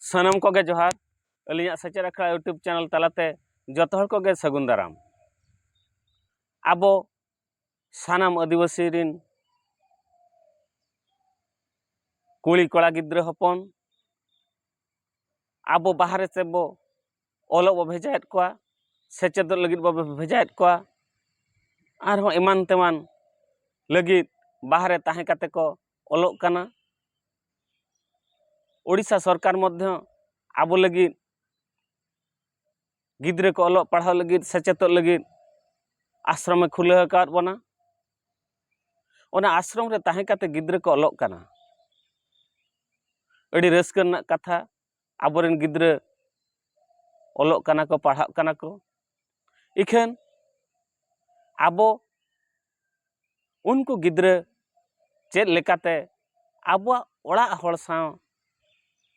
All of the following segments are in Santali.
ᱥᱟᱱᱟᱢ ᱠᱚᱜᱮ ᱡᱚᱦᱟᱨ ᱟᱹᱞᱤᱧᱟᱜ ᱥᱮᱪᱮᱫ ᱟᱠᱷᱲᱟ ᱤᱭᱩᱴᱩᱵᱽ ᱪᱮᱱᱮᱞ ᱛᱟᱞᱟᱛᱮ ᱡᱚᱛᱚ ᱦᱚᱲ ᱠᱚᱜᱮ ᱥᱟᱹᱜᱩᱱ ᱫᱟᱨᱟᱢ ᱟᱵᱚ ᱥᱟᱱᱟᱢ ᱟᱹᱫᱤᱵᱟᱹᱥᱤ ᱨᱤᱱ ᱠᱩᱲᱤ ᱠᱚᱲᱟ ᱜᱤᱫᱽᱨᱟᱹ ᱦᱚᱯᱚᱱ ᱟᱵᱚ ᱵᱟᱦᱨᱮ ᱛᱮᱵᱚ ᱚᱞᱚᱜ ᱵᱚ ᱵᱷᱮᱡᱟᱭᱮᱫ ᱠᱚᱣᱟ ᱥᱮᱪᱮᱫᱚᱜ ᱞᱟᱹᱜᱤᱫ ᱵᱚ ᱵᱷᱮᱡᱟᱭᱮᱫ ᱠᱚᱣᱟ ᱟᱨᱦᱚᱸ ᱮᱢᱟᱱ ᱛᱮᱢᱟᱱ ᱞᱟᱹᱜᱤᱫ ᱵᱟᱦᱨᱮ ᱛᱟᱦᱮᱸ ᱠᱟᱛᱮᱫ ᱠᱚ ᱚᱞᱚᱜ ᱠᱟᱱᱟ ᱳᱰᱤᱥᱟ ᱥᱚᱨᱠᱟᱨ ᱢᱚᱫᱽᱫᱷᱮ ᱟᱵᱚ ᱞᱟᱹᱜᱤᱫ ᱜᱤᱫᱽᱨᱟᱹ ᱠᱚ ᱚᱞᱚᱜ ᱯᱟᱲᱦᱟᱣ ᱞᱟᱹᱜᱤᱫ ᱥᱮᱪᱮᱫᱚᱜ ᱞᱟᱹᱜᱤᱫ ᱟᱥᱨᱚᱢᱮ ᱠᱷᱩᱞᱟᱹᱣ ᱟᱠᱟᱫ ᱵᱚᱱᱟ ᱚᱱᱟ ᱟᱥᱨᱚᱢ ᱨᱮ ᱛᱟᱦᱮᱸ ᱠᱟᱛᱮᱫ ᱜᱤᱫᱽᱨᱟᱹ ᱠᱚ ᱚᱞᱚᱜ ᱠᱟᱱᱟ ᱟᱹᱰᱤ ᱨᱟᱹᱥᱠᱟᱹ ᱨᱮᱱᱟᱜ ᱠᱟᱛᱷᱟ ᱟᱵᱚᱨᱮᱱ ᱜᱤᱫᱽᱨᱟᱹ ᱚᱞᱚᱜ ᱠᱟᱱᱟ ᱠᱚ ᱯᱟᱲᱦᱟᱜ ᱠᱟᱱᱟ ᱠᱚ ᱤᱠᱷᱟᱹᱱ ᱟᱵᱚ ᱩᱱᱠᱩ ᱜᱤᱫᱽᱨᱟᱹ ᱪᱮᱫ ᱞᱮᱠᱟᱛᱮ ᱟᱵᱚᱣᱟᱜ ᱚᱲᱟᱜ ᱦᱚᱲ ᱥᱟᱶ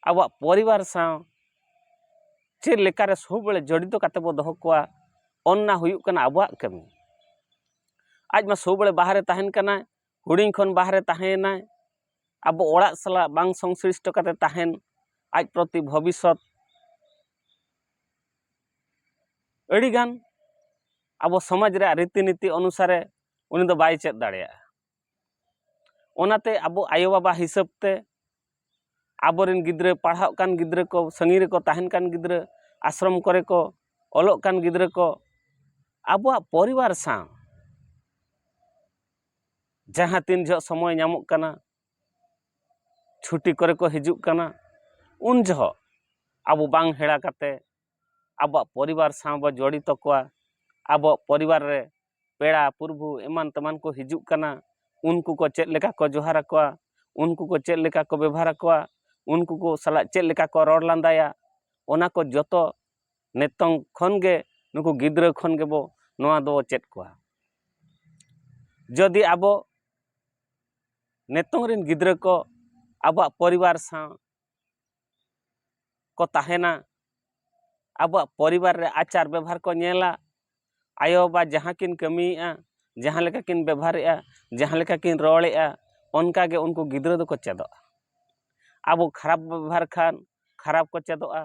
ᱟᱵᱚᱣᱟᱜ ᱯᱚᱨᱤᱵᱟᱨ ᱥᱟᱶ ᱪᱮᱫ ᱞᱮᱠᱟᱨᱮ ᱥᱚᱵᱽᱵᱟᱹᱲᱮ ᱡᱚᱲᱤᱛᱚ ᱠᱟᱛᱮ ᱵᱚ ᱫᱚᱦᱚ ᱠᱚᱣᱟ ᱚᱱᱱᱟ ᱦᱩᱭᱩᱜ ᱠᱟᱱᱟ ᱟᱵᱚᱣᱟᱜ ᱠᱟᱹᱢᱤ ᱟᱡ ᱢᱟ ᱥᱚᱵᱽᱵᱟᱹᱲᱮ ᱵᱟᱦᱨᱮ ᱛᱟᱦᱮᱱ ᱠᱟᱱᱟᱭ ᱦᱩᱰᱤᱧ ᱠᱷᱚᱱ ᱵᱟᱦᱨᱮ ᱛᱟᱦᱮᱸᱭᱮᱱᱟᱭ ᱟᱵᱚ ᱚᱲᱟᱜ ᱥᱟᱞᱟᱜ ᱵᱟᱝ ᱥᱚᱝᱥᱞᱤᱥᱴᱚ ᱠᱟᱛᱮ ᱛᱟᱦᱮᱱ ᱟᱡ ᱯᱨᱚᱛᱤ ᱵᱷᱚᱵᱤᱥᱥᱚᱛ ᱟᱹᱰᱤᱜᱟᱱ ᱟᱵᱚ ᱥᱚᱢᱟᱡᱽ ᱨᱮᱭᱟᱜ ᱨᱤᱛᱤ ᱱᱤᱛᱤ ᱚᱱᱩᱥᱟᱨᱮ ᱩᱱᱤ ᱫᱚ ᱵᱟᱭ ᱪᱮᱫ ᱫᱟᱲᱮᱭᱟᱜᱼᱟ ᱚᱱᱟᱛᱮ ᱟᱵᱚ ᱟᱭᱳ ᱵᱟᱵᱟ ᱦᱤᱥᱟᱹᱵ ᱛᱮ ᱟᱵᱚᱨᱮᱱ ᱜᱤᱫᱽᱨᱟᱹ ᱯᱟᱲᱦᱟᱜ ᱠᱟᱱ ᱜᱤᱫᱽᱨᱟᱹ ᱠᱚ ᱥᱟᱺᱜᱤᱧ ᱨᱮᱠᱚ ᱛᱟᱦᱮᱱ ᱠᱟᱱ ᱜᱤᱫᱽᱨᱟᱹ ᱟᱥᱨᱚᱢ ᱠᱚᱨᱮ ᱠᱚ ᱚᱞᱚᱜ ᱠᱟᱱ ᱜᱤᱫᱽᱨᱟᱹ ᱠᱚ ᱟᱵᱚᱣᱟᱜ ᱯᱚᱨᱤᱵᱟᱨ ᱥᱟᱶ ᱡᱟᱦᱟᱸ ᱛᱤᱱ ᱡᱚᱦᱚᱜ ᱥᱚᱢᱚᱭ ᱧᱟᱢᱚᱜ ᱠᱟᱱᱟ ᱪᱷᱩᱴᱤ ᱠᱚᱨᱮ ᱠᱚ ᱦᱤᱡᱩᱜ ᱠᱟᱱᱟ ᱩᱱ ᱡᱚᱦᱚᱜ ᱟᱵᱚ ᱵᱟᱝ ᱦᱮᱲᱟ ᱠᱟᱛᱮ ᱟᱵᱚᱣᱟᱜ ᱯᱚᱨᱤᱵᱟᱨ ᱥᱟᱶ ᱵᱚ ᱡᱚᱲᱤᱛᱚ ᱠᱚᱣᱟ ᱟᱵᱚᱣᱟᱜ ᱯᱚᱨᱤᱵᱟᱨ ᱨᱮ ᱯᱮᱲᱟ ᱯᱩᱨᱵᱷᱩ ᱮᱢᱟᱱ ᱛᱮᱢᱟᱱ ᱠᱚ ᱦᱤᱡᱩᱜ ᱠᱟᱱᱟ ᱩᱱᱠᱩ ᱠᱚ ᱪᱮᱫ ᱞᱮᱠᱟ ᱠᱚ ᱡᱚᱦᱟᱨ ᱟᱠᱚᱣᱟ ᱩᱱᱠᱩ ᱠᱚ ᱪᱮᱫ ᱞᱮᱠᱟ ᱠᱚ ᱵᱮᱵᱷᱟᱨ ᱟᱠᱚᱣᱟ ᱩᱱᱠᱩ ᱠᱚ ᱥᱟᱞᱟᱜ ᱪᱮᱫ ᱞᱮᱠᱟ ᱠᱚ ᱨᱚᱲ ᱞᱟᱸᱫᱟᱭᱟ ᱚᱱᱟ ᱠᱚ ᱡᱚᱛᱚ ᱱᱤᱛᱚᱝ ᱠᱷᱚᱱ ᱜᱮ ᱱᱩᱠᱩ ᱜᱤᱫᱽᱨᱟᱹ ᱠᱷᱚᱱ ᱜᱮᱵᱚ ᱱᱚᱣᱟ ᱫᱚ ᱪᱮᱫ ᱠᱚᱣᱟ ᱡᱩᱫᱤ ᱟᱵᱚ ᱱᱤᱛᱚᱝ ᱨᱮᱱ ᱜᱤᱫᱽᱨᱟᱹ ᱠᱚ ᱟᱵᱚᱣᱟᱜ ᱯᱚᱨᱤᱵᱟᱨ ᱥᱟᱶ ᱠᱚ ᱛᱟᱦᱮᱱᱟ ᱟᱵᱚᱣᱟᱜ ᱯᱚᱨᱤᱵᱟᱨ ᱨᱮ ᱟᱪᱟᱨ ᱵᱮᱵᱷᱟᱨ ᱠᱚ ᱧᱮᱞᱟ ᱟᱭᱳᱼᱵᱟᱵᱟ ᱡᱟᱦᱟᱸ ᱠᱤᱱ ᱠᱟᱹᱢᱤᱭᱮᱫᱼᱟ ᱡᱟᱦᱟᱸ ᱞᱮᱠᱟ ᱠᱤᱱ ᱵᱮᱵᱷᱟᱨᱮᱫᱼᱟ ᱡᱟᱦᱟᱸ ᱞᱮᱠᱟ ᱠᱤᱱ ᱨᱚᱲᱮᱫᱼᱟ ᱚᱱᱠᱟ ᱜᱮ ᱩᱱᱠᱩ ᱜᱤᱫᱽᱨᱟᱹ ᱫᱚᱠᱚ ᱪᱮᱫᱚᱜᱼᱟ ᱟᱵᱚ ᱠᱷᱟᱨᱟᱯ ᱵᱚᱱ ᱵᱮᱵᱷᱟᱨ ᱠᱷᱟᱱ ᱠᱷᱟᱨᱟᱯ ᱠᱚ ᱪᱮᱫᱚᱜᱼᱟ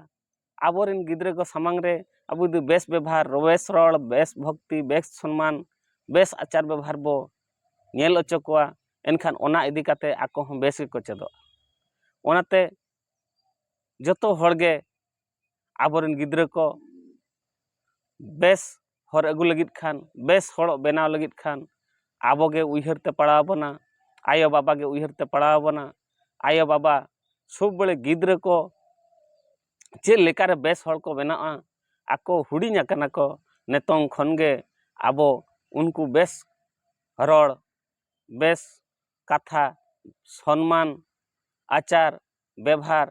ᱟᱵᱚ ᱨᱮᱱ ᱜᱤᱫᱽᱨᱟᱹ ᱠᱚ ᱥᱟᱢᱟᱝ ᱨᱮ ᱟᱵᱚ ᱡᱩᱫᱤ ᱵᱮᱥ ᱵᱮᱵᱷᱟᱨ ᱵᱮᱥ ᱨᱚᱲ ᱵᱮᱥ ᱵᱷᱚᱠᱛᱤ ᱵᱮᱥ ᱥᱚᱱᱢᱟᱱ ᱵᱮᱥ ᱟᱪᱟᱨ ᱵᱮᱵᱷᱟᱨ ᱵᱚ ᱧᱮᱞ ᱦᱚᱪᱚ ᱠᱚᱣᱟ ᱮᱱᱠᱷᱟᱱ ᱚᱱᱟ ᱤᱫᱤ ᱠᱟᱛᱮᱫ ᱟᱠᱚ ᱦᱚᱸ ᱵᱮᱥ ᱜᱮᱠᱚ ᱪᱮᱫᱚᱜᱼᱟ ᱚᱱᱟᱛᱮ ᱡᱚᱛᱚ ᱦᱚᱲ ᱜᱮ ᱟᱵᱚ ᱨᱮᱱ ᱜᱤᱫᱽᱨᱟᱹ ᱠᱚ ᱵᱮᱥ ᱦᱚᱨ ᱟᱹᱜᱩ ᱞᱟᱹᱜᱤᱫ ᱠᱷᱟᱱ ᱵᱮᱥ ᱦᱚᱲ ᱵᱮᱱᱟᱣ ᱞᱟᱹᱜᱤᱫ ᱠᱷᱟᱱ ᱟᱵᱚ ᱜᱮ ᱩᱭᱦᱟᱹᱨ ᱛᱮ ᱯᱟᱲᱟᱣ ᱵᱚᱱᱟ ᱟᱭᱳᱼᱵᱟᱵᱟ ᱜᱮ ᱩᱭᱦᱟᱹᱨ ᱛᱮ ᱯᱟᱲᱟᱣ ᱵᱚᱱᱟ ᱟᱭᱳᱼᱵᱟᱵᱟ ᱥᱚᱵ ᱵᱟᱲᱮ ᱜᱤᱫᱽᱨᱟᱹ ᱠᱚ ᱪᱮᱫ ᱞᱮᱠᱟ ᱨᱮ ᱵᱮᱥ ᱦᱚᱲ ᱠᱚ ᱵᱮᱱᱟᱜᱼᱟ ᱟᱠᱚ ᱦᱩᱰᱤᱧ ᱟᱠᱟᱱᱟ ᱠᱚ ᱱᱤᱛᱚᱝ ᱠᱷᱚᱱ ᱜᱮ ᱟᱵᱚ ᱩᱱᱠᱩ ᱵᱮᱥ ᱨᱚᱲ ᱵᱮᱥ ᱠᱟᱛᱷᱟ ᱥᱚᱱᱢᱟᱱ ᱟᱪᱟᱨ ᱵᱮᱵᱷᱟᱨ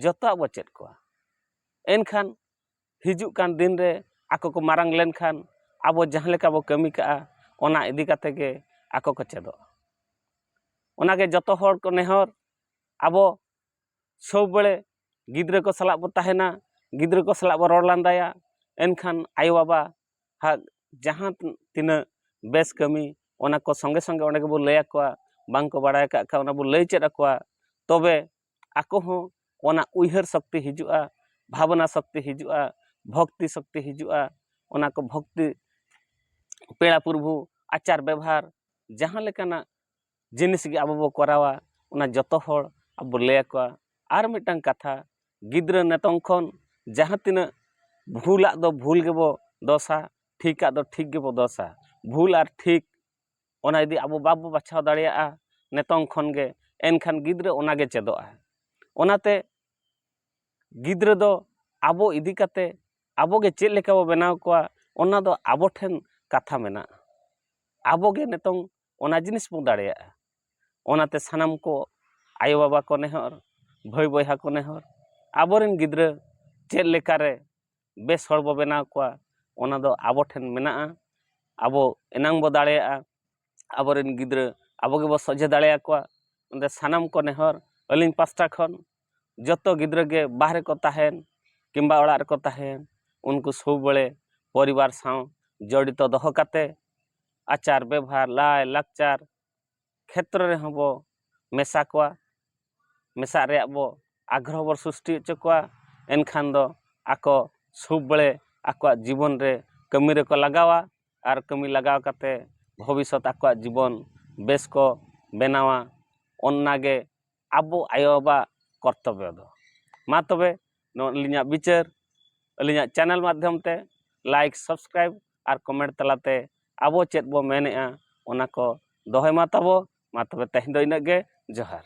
ᱡᱚᱛᱚᱣᱟᱜ ᱵᱚ ᱪᱮᱫ ᱠᱚᱣᱟ ᱮᱱᱠᱷᱟᱱ ᱦᱤᱡᱩᱜ ᱠᱟᱱ ᱫᱤᱱ ᱨᱮ ᱟᱠᱚ ᱠᱚ ᱢᱟᱨᱟᱝ ᱞᱮᱱᱠᱷᱟᱱ ᱟᱵᱚ ᱡᱟᱦᱟᱸ ᱞᱮᱠᱟ ᱵᱚᱱ ᱠᱟᱹᱢᱤ ᱠᱟᱜᱼᱟ ᱚᱱᱟ ᱤᱫᱤ ᱠᱟᱛᱮᱫ ᱜᱮ ᱟᱠᱚ ᱠᱚ ᱪᱮᱫᱚᱜᱼᱟ ᱚᱱᱟ ᱜᱮ ᱡᱚᱛᱚ ᱦᱚᱲ ᱠᱚ ᱱᱮᱦᱚᱨ ᱟᱵᱚ ᱥᱚᱵ ᱵᱟᱲᱮ ᱜᱤᱫᱽᱨᱟᱹ ᱠᱚ ᱥᱟᱞᱟᱜ ᱵᱚᱱ ᱛᱟᱦᱮᱱᱟ ᱜᱤᱫᱽᱨᱟᱹ ᱠᱚ ᱥᱟᱞᱟᱜ ᱵᱚᱱ ᱨᱚᱲ ᱞᱟᱸᱫᱟᱭᱟ ᱮᱱᱠᱷᱟᱱ ᱟᱭᱳ ᱵᱟᱵᱟ ᱦᱟᱜ ᱡᱟᱦᱟᱸ ᱛᱤᱱᱟᱹᱜ ᱵᱮᱥ ᱠᱟᱹᱢᱤ ᱚᱱᱟ ᱠᱚ ᱥᱚᱸᱜᱮ ᱥᱚᱸᱜᱮ ᱚᱸᱰᱮ ᱜᱮᱵᱚᱱ ᱞᱟᱹᱭ ᱟᱠᱚᱣᱟ ᱵᱟᱝ ᱠᱚ ᱵᱟᱲᱟᱭ ᱠᱟᱜ ᱠᱷᱟᱱ ᱚᱱᱟ ᱵᱚᱱ ᱞᱟᱹᱭ ᱪᱮᱫ ᱟᱠᱚᱣᱟ ᱛᱚᱵᱮ ᱟᱠᱚ ᱦᱚᱸ ᱚᱱᱟ ᱩᱭᱦᱟᱹᱨ ᱥᱚᱠᱛᱤ ᱦᱤᱡᱩᱜᱼᱟ ᱵᱷᱟᱵᱽᱱᱟ ᱥᱚᱠᱛᱤ ᱦᱤᱡᱩᱜᱼᱟ ᱵᱷᱚᱠᱛᱤ ᱥᱚᱠᱛᱤ ᱦᱤᱡᱩᱜᱼᱟ ᱚᱱᱟ ᱠᱚ ᱵᱷᱚᱠᱛᱤ ᱯᱮᱲᱟ ᱯᱩᱨᱵᱷᱩ ᱟᱪᱟᱨ ᱵᱮᱵᱷᱟᱨ ᱡᱟᱦᱟᱸ ᱞᱮᱠᱟᱱᱟᱜ ᱡᱤᱱᱤᱥ ᱜᱮ ᱟᱵᱚ ᱵᱚ ᱠᱚᱨᱟᱣᱟ ᱚᱱᱟ ᱡᱚᱛᱚ ᱦᱚᱲ ᱟᱵᱚ ᱵᱚ ᱞᱟᱹᱭ ᱟᱠᱚᱣᱟ ᱟᱨ ᱢᱤᱫᱴᱟᱝ ᱠᱟᱛᱷᱟ ᱜᱤᱫᱽᱨᱟᱹ ᱱᱤᱛᱚᱝ ᱠᱷᱚᱱ ᱡᱟᱦᱟᱸ ᱛᱤᱱᱟᱹᱜ ᱵᱷᱩᱞᱟᱜ ᱫᱚ ᱵᱷᱩᱞ ᱜᱮᱵᱚ ᱫᱚᱥᱟ ᱴᱷᱤᱠᱟᱜ ᱫᱚ ᱴᱷᱤᱠ ᱜᱮᱵᱚ ᱫᱚᱥᱟ ᱵᱷᱩᱞ ᱟᱨ ᱴᱷᱤᱠ ᱚᱱᱟ ᱡᱩᱫᱤ ᱟᱵᱚ ᱵᱟᱵᱚ ᱵᱟᱪᱷᱟᱣ ᱫᱟᱲᱮᱭᱟᱜᱼᱟ ᱱᱤᱛᱚᱝ ᱠᱷᱚᱱ ᱜᱮ ᱮᱱᱠᱷᱟᱱ ᱜᱤᱫᱽᱨᱟᱹ ᱚᱱᱟ ᱜᱮ ᱪᱮᱫᱚᱜᱼᱟᱭ ᱚᱱᱟᱛᱮ ᱜᱤᱫᱽᱨᱟᱹ ᱫᱚ ᱟᱵᱚ ᱤᱫᱤ ᱠᱟᱛᱮ ᱟᱵᱚ ᱜᱮ ᱪᱮᱫ ᱞᱮᱠᱟ ᱵᱚ ᱵᱮᱱᱟᱣ ᱠᱚᱣᱟ ᱚᱱᱟ ᱫᱚ ᱟᱵᱚ ᱴᱷᱮᱱ ᱠᱟᱛᱷᱟ ᱢᱮᱱᱟᱜᱼᱟ ᱟᱵᱚ ᱜᱮ ᱱᱤᱛᱚᱝ ᱚᱱᱟ ᱡᱤᱱᱤᱥ ᱵᱚ ᱫᱟᱲᱮᱭᱟᱜᱼᱟ ᱚᱱᱟᱛᱮ ᱥᱟᱱᱟᱢ ᱠᱚ ᱟᱭᱳ ᱵᱟᱵᱟ ᱠᱚ ᱱᱮᱦᱚᱨ ᱵᱷᱟᱹᱭ ᱵᱚᱭᱦᱟ ᱠᱚ ᱱᱮᱦᱚᱨ ᱟᱵᱚ ᱨᱮᱱ ᱜᱤᱫᱽᱨᱟᱹ ᱪᱮᱫ ᱞᱮᱠᱟ ᱨᱮ ᱵᱮᱥ ᱦᱚᱲ ᱵᱚ ᱵᱮᱱᱟᱣ ᱠᱚᱣᱟ ᱚᱱᱟ ᱫᱚ ᱟᱵᱚ ᱴᱷᱮᱱ ᱢᱮᱱᱟᱜᱼᱟ ᱟᱵᱚ ᱮᱱᱟᱝ ᱵᱚ ᱫᱟᱲᱮᱭᱟᱜᱼᱟ ᱟᱵᱚ ᱨᱮᱱ ᱜᱤᱫᱽᱨᱟᱹ ᱟᱵᱚ ᱜᱮᱵᱚ ᱥᱚᱡᱷᱮ ᱫᱟᱲᱮᱭᱟᱠᱚᱣᱟ ᱚᱱᱟᱛᱮ ᱥᱟᱱᱟᱢ ᱠᱚ ᱱᱮᱦᱚᱨ ᱟᱹᱞᱤᱧ ᱯᱟᱥᱴᱟ ᱠᱷᱚᱱ ᱡᱚᱛᱚ ᱜᱤᱫᱽᱨᱟᱹ ᱜᱮ ᱵᱟᱦᱨᱮ ᱠᱚ ᱛᱟᱦᱮᱱ ᱠᱤᱢᱵᱟ ᱚᱲᱟᱜ ᱨᱮᱠᱚ ᱛᱟᱦᱮᱱ ᱩᱱᱠᱩ ᱥᱚᱵᱽᱼᱵᱟᱲᱮ ᱯᱚᱨᱤᱵᱟᱨ ᱥᱟᱶ ᱡᱚᱲᱤᱛᱚ ᱫᱚᱦᱚ ᱠᱟᱛᱮᱫ ᱟᱪᱟᱨ ᱵᱮᱵᱷᱟᱨ ᱞᱟᱭᱼᱞᱟᱠᱪᱟᱨ ᱠᱷᱮᱛᱨᱚ ᱨᱮᱦᱚᱸ ᱵᱚ ᱢᱮᱥᱟ ᱠᱚᱣᱟ ᱢᱮᱥᱟᱜ ᱨᱮᱭᱟᱜ ᱵᱚ ᱟᱜᱽᱨᱚᱦᱚ ᱵᱚ ᱥᱨᱤᱥᱴᱤ ᱦᱚᱪᱚ ᱠᱚᱣᱟ ᱮᱱᱠᱷᱟᱱ ᱫᱚ ᱟᱠᱚ ᱥᱩᱠ ᱵᱟᱲᱮ ᱟᱠᱚᱣᱟᱜ ᱡᱤᱵᱚᱱ ᱨᱮ ᱠᱟᱹᱢᱤ ᱨᱮᱠᱚ ᱞᱟᱜᱟᱣᱟ ᱟᱨ ᱠᱟᱹᱢᱤ ᱞᱟᱜᱟᱣ ᱠᱟᱛᱮ ᱵᱷᱚᱵᱤᱥᱥᱚᱛ ᱟᱠᱚᱣᱟᱜ ᱡᱤᱵᱚᱱ ᱵᱮᱥ ᱠᱚ ᱵᱮᱱᱟᱣᱟ ᱚᱱᱱᱟᱜᱮ ᱟᱵᱚ ᱟᱭᱳ ᱵᱟᱵᱟ ᱠᱚᱨᱛᱚᱵᱽᱵᱚ ᱫᱚ ᱢᱟ ᱛᱚᱵᱮ ᱱᱚᱣᱟ ᱟᱹᱞᱤᱧᱟᱜ ᱵᱤᱪᱟᱹᱨ ᱟᱹᱞᱤᱧᱟᱜ ᱪᱮᱱᱮᱞ ᱢᱟᱫᱽᱫᱷᱚᱢ ᱛᱮ ᱞᱟᱭᱤᱠ ᱥᱟᱵᱥᱠᱨᱟᱭᱤᱵᱽ ᱟᱨ ᱠᱚᱢᱮᱱᱴ ᱛᱟᱞᱟᱛᱮ ᱟᱵᱚ ᱪᱮᱫ ᱵᱚ ᱢᱮᱱᱮᱜᱼᱟ ᱚᱱᱟ ᱠᱚ ᱫᱚᱦᱚᱭ ᱢᱟ ᱛᱟᱵᱚ ᱢᱟ ᱛᱚᱵᱮ ᱛᱮᱦᱮᱧ ᱫᱚ ᱤᱱᱟᱹᱜ ᱜᱮ ᱡᱚᱦᱟᱨ